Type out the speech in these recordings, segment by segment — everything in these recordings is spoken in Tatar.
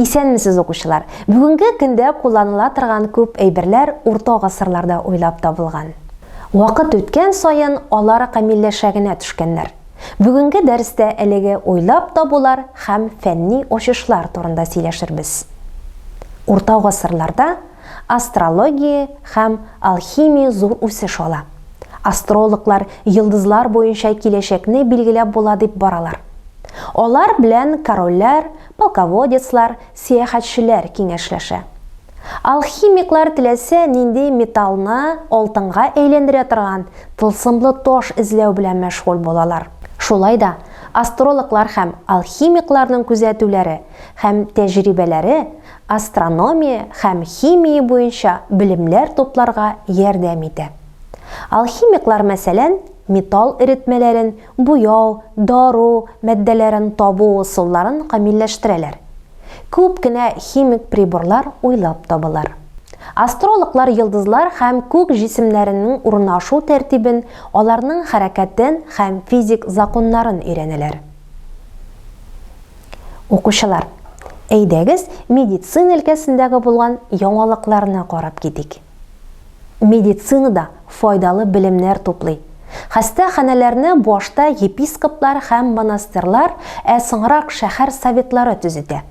Исәнмесез укучылар! Бүгенге көндә кулланыла торган күп әйберләр урта гасырларда уйлап табылган. Вакыт үткән саен алар камилләшә генә төшкәннәр. Бүгенге дәрестә әлеге уйлап табулар һәм фәнни ачышлар турында сөйләшербез. Урта гасырларда Астрология һәм алхимия зур үсеш ала. Астрологлар йолдызлар буенча киләчәкне билгеләп була дип баралар. Алар белән корольләр, полководецлар, сәяхәтчеләр киңәшләшә. Алхимиклар теләсә нинди металлны алтынга әйләндерә торган тылсымлы таш эзләү белән мәшгуль булалар. Шулай да астрологлар һәм алхимикларның күзәтүләре һәм тәҗрибәләре астрономия һәм химия буенча белемнәр тупларга ярдәм итә. Алхимиклар, мәсәлән, металл эретмәләрен, буяу, дару матдәләрен табу ысулларын камилләштерәләр. Күп кенә химик приборлар уйлап табалар. Астрологлар йолдызлар һәм күк җисемнәренең урнашу тәртибен, аларның хәрәкәтен һәм физик законнарын өйрәнәләр. Укучылар, әйдәгез медицина өлкәсендәге булган яңалыкларны карап китик. Медицинада файдалы белемнәр туплый. Хәстә ханәләрне башта епископлар һәм монастырьлар, ә соңрак шәһәр советлары төзетә.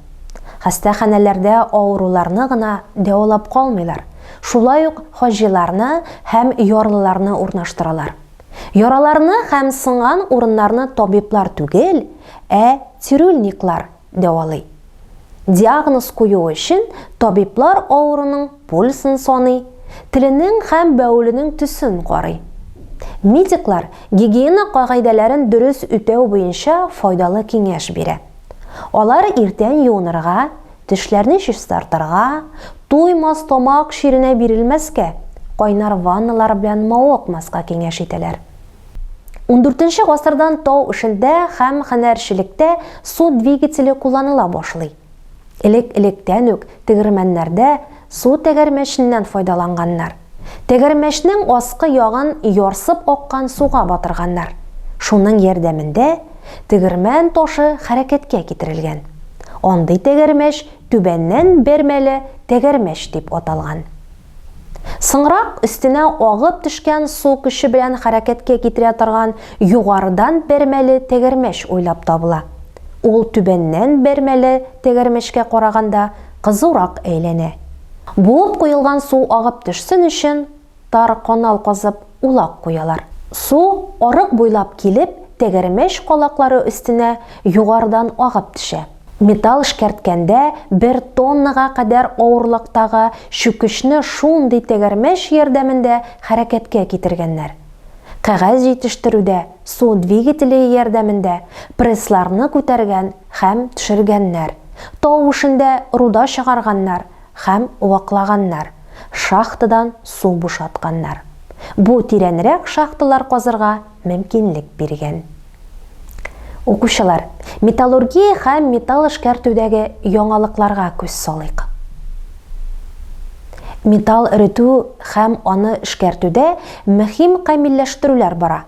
Хәстә ханәләрдә авыруларны гына дәвалап калмыйлар, шулай ук хаҗиларны һәм ярлыларны урнаштыралар. Яраларны һәм сынган урыннарны табиблар түгел, ә цирюльниклар дәвалый. Диагноз кую өчен табиблар авыруның пульсын саный, теленең һәм бәвеленең төсен карый. Медиклар гигиена кагыйдәләрен дөрес үтәү буенча файдалы киңәш бирә. Алар иртән юынырга, тешләрне чистартырга, туймас тамак чиренә бирелмәскә, кайнар ванналар белән мавыкмаска киңәш итәләр. Ундүртенче гасырдан тау эшендә һәм һөнәрчелектә су двигателе кулланыла башлый. Элек-электән үк тегермәннәрдә су тәгәрмәченнән файдаланганнар. Тәгәрмәчнең аскы ягын ярсып аккан суга батырганнар. Шуның ярдәмендә тегермән ташы хәрәкәткә китерелгән. Андый тәгәрмәч түбәннән бер мәле тәгәрмәч дип аталган. Соңрак өстенә агып төшкән су көче белән хәрәкәткә китерә торган югарыдан бер мәле тәгәрмәч уйлап табыла. Ул түбәннән бер мәле тәгәрмәчкә караганда кызурак әйләнә. Буып куелган су агып төшсен өчен, тар канал казып, улак куялар. Су, арык буйлап килеп, тәгәрмәч калаклары өстенә югарыдан агып төшә. Металл эшкәрткәндә бер тоннага кадәр авырлыктагы чүкечне шундый тәгәрмәч ярдәмендә хәрәкәткә китергәннәр. Кәгазь җитештерүдә су двигателе ярдәмендә прессларны күтәргән Хәм төшергәннәр. Тау эшендә руда чыгарганнар хәм ваклаганнар, шахтадан су бушатканнар. Бу тирәнрәк шахталар казырга мөмкинлек биргән. Укучылар, металлургия хәм металл эшкәртүдәге яңалыкларга күз салыйк. Металл эретү хәм аны эшкәртүдә мөһим камилләштерүләр бара.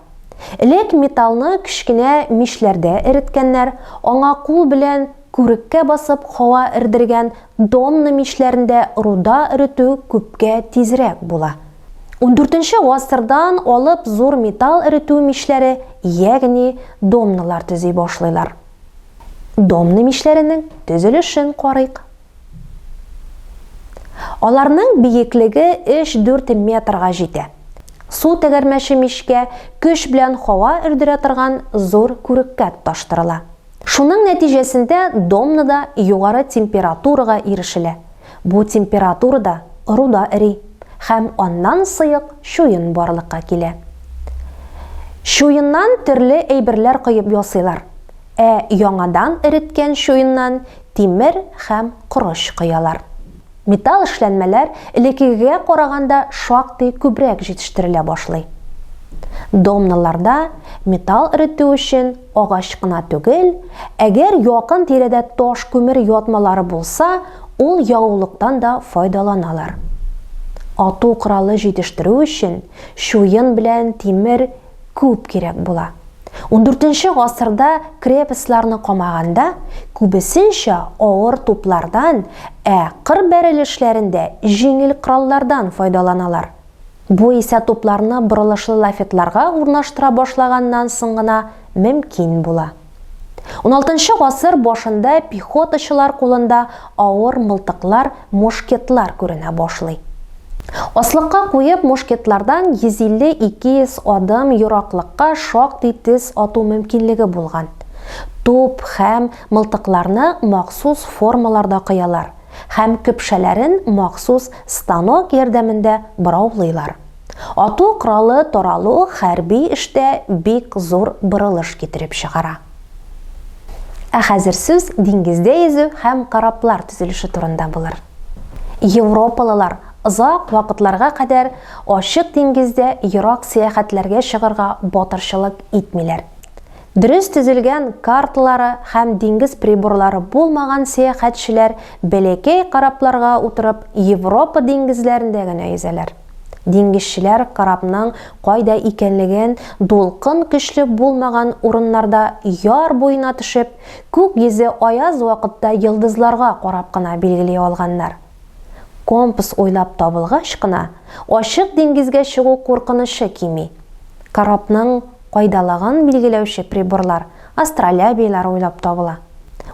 Элек металлны кечкенә мичләрдә эреткәннәр, аңа кул белән күреккә басып һава эрдергән домна мичләрендә руда эретү күпкә тизрәк була. Ундүртенче гасырдан алып зур металл эретү мичләре, ягъни домналар төзи башлыйлар. Домна мичләренең төзелешен карыйк. Аларның биеклеге 3-4 метрга җитә. Су тәгәрмәче мичкә көч белән һава өрдерә торган зур күреккә тоташтырыла. Шуның нәтиҗәсендә домнада югары температурага ирешелә. Бу температурада руда эри һәм аннан сыек чуен барлыкка килә. Чуеннан төрле әйберләр коеп ясыйлар. Ә яңадан эреткән чуеннан тимер һәм корыч коялар. Металл эшләнмәләр элеккегегә караганда шактый күбрәк җитештерелә башлый. Домноларда металл эретү өчен агач кына түгел, әгәр якын тирәдә таш күмер ятмалары булса, ул ягулыктан да файдаланалар. Ату коралы җитештерү өчен чуен белән тимер Күп кирәк була. Ундүртенче гасырда крепостьларны камаганда, күбесенчә авыр туплардан, ә кыр бәрелешләрендә җиңел кораллардан файдаланалар. Бу исә тупларны борылышлы лафетларга урнаштыра башлаганнан соң гына мөмкин була. 16 гасыр башында пехотачылар кулында авыр мылтыклар, мушкетлар күренә башлый. Аслыкка куеп мушкетлардан 150-200 адым юраклыкка шактый тез ату мөмкинлеге булган. Туп хәм мылтыкларны махсус формаларда кыялар хәм көпшәләрен махсус станок ярдәмендә бораулыйлар. Ату коралы таралу хәрби эштә бик зур борылыш китереп чыгара. Ә хәзер сүз диңгездә йөзү һәм кораблар төзелеше турында булыр. Европалылар озак вакытларга кадәр ачык диңгездә ерак сәяхәтләргә чыгарга батырчылык итмиләр. Дөрес төзелгән карталары һәм диңгез приборлары булмаган сәяхәтчеләр бәләкәй корабларга утырып Европа диңгезләрендә генә йөзәләр. Диңгезчеләр корабның кайда икәнлеген, дулкын көчле булмаган урыннарда яр буена төшеп, күк йөзе аяз вакытта йолдызларга карап кына билгели алганнар. Компас уйлап табылгач кына, ачык диңгезгә чыгу куркынычы кими. Корабның кайдалыгын билгеләүче приборлар, астролябийлар уйлап табыла.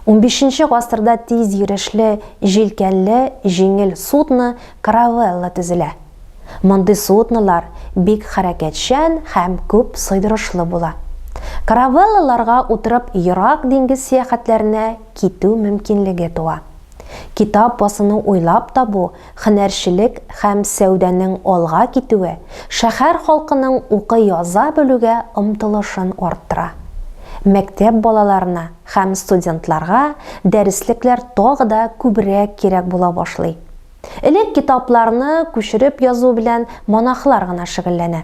Унбишенче гасырда тиз йөрешле җилкәнле җиңел судно каравелла төзелә. Мондый суднолар бик хәрәкәтчән һәм күп сыйдырышлы була. Каравеллаларга утырып ерак диңгез сәяхәтләренә китү мөмкинлеге туа. Китап басуны уйлап табу, хөнәрчелек һәм сәүдәнең алга китүе шәһәр халкының укый-яза белүгә омтылышын арттыра. Мәктәп балаларына һәм студентларга дәреслекләр тагы да күбрәк кирәк була башлый. Элек китапларны күчереп язу белән монахлар гына шөгыльләнә.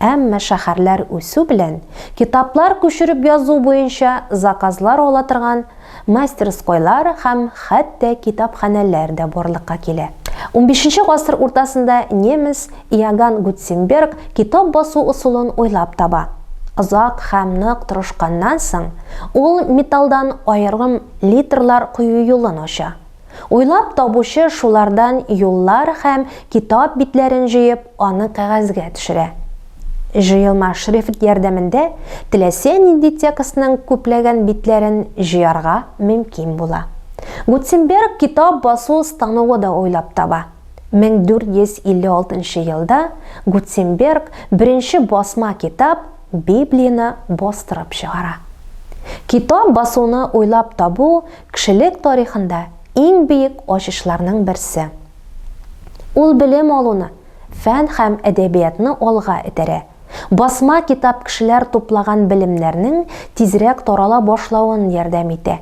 Әмма шәһәрләр үсү белән, китаплар күчереп язу буенча заказлар ала торган мастерскойлар һәм хәтта китапханәләр дә барлыкка килә. Унбишенче гасыр уртасында немец Иоганн Гутценберг китап басу ысулын уйлап таба. Озак һәм нык тырышканнан соң, ул металлдан аерым литрлар кую юлын ача. Уйлап табучы шулардан юллар һәм китап битләрен җыеп, аны кәгазьгә төшерә. Җыелма шрифт ярдәмендә теләсә нинди текстның күпләгән битләрен җыярга мөмкин була. Гутенберг китап басу станогы да уйлап таба. 1456 нчы елда Гутенберг беренче басма китап Библияне бастырып чыгара. Китап басуны уйлап табу Кешелек тарихында иң биек ачышларның берсе. Ул белем алуны, фән һәм әдәбиятны алга этәрә. Басма китап кешеләр туплаган белемнәрнең тизрәк тарала башлавын ярдәм итә.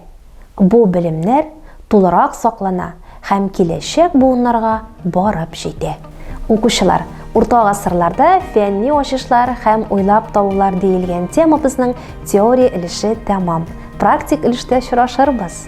Бу белемнәр тулырак саклана һәм киләчәк буыннарга барып җитә. Укучылар, Урта гасырларда фәнни ачышлар һәм уйлап табулар диелгән темабызның теория өлеше тәмам. Практик өлештә очрашырбыз.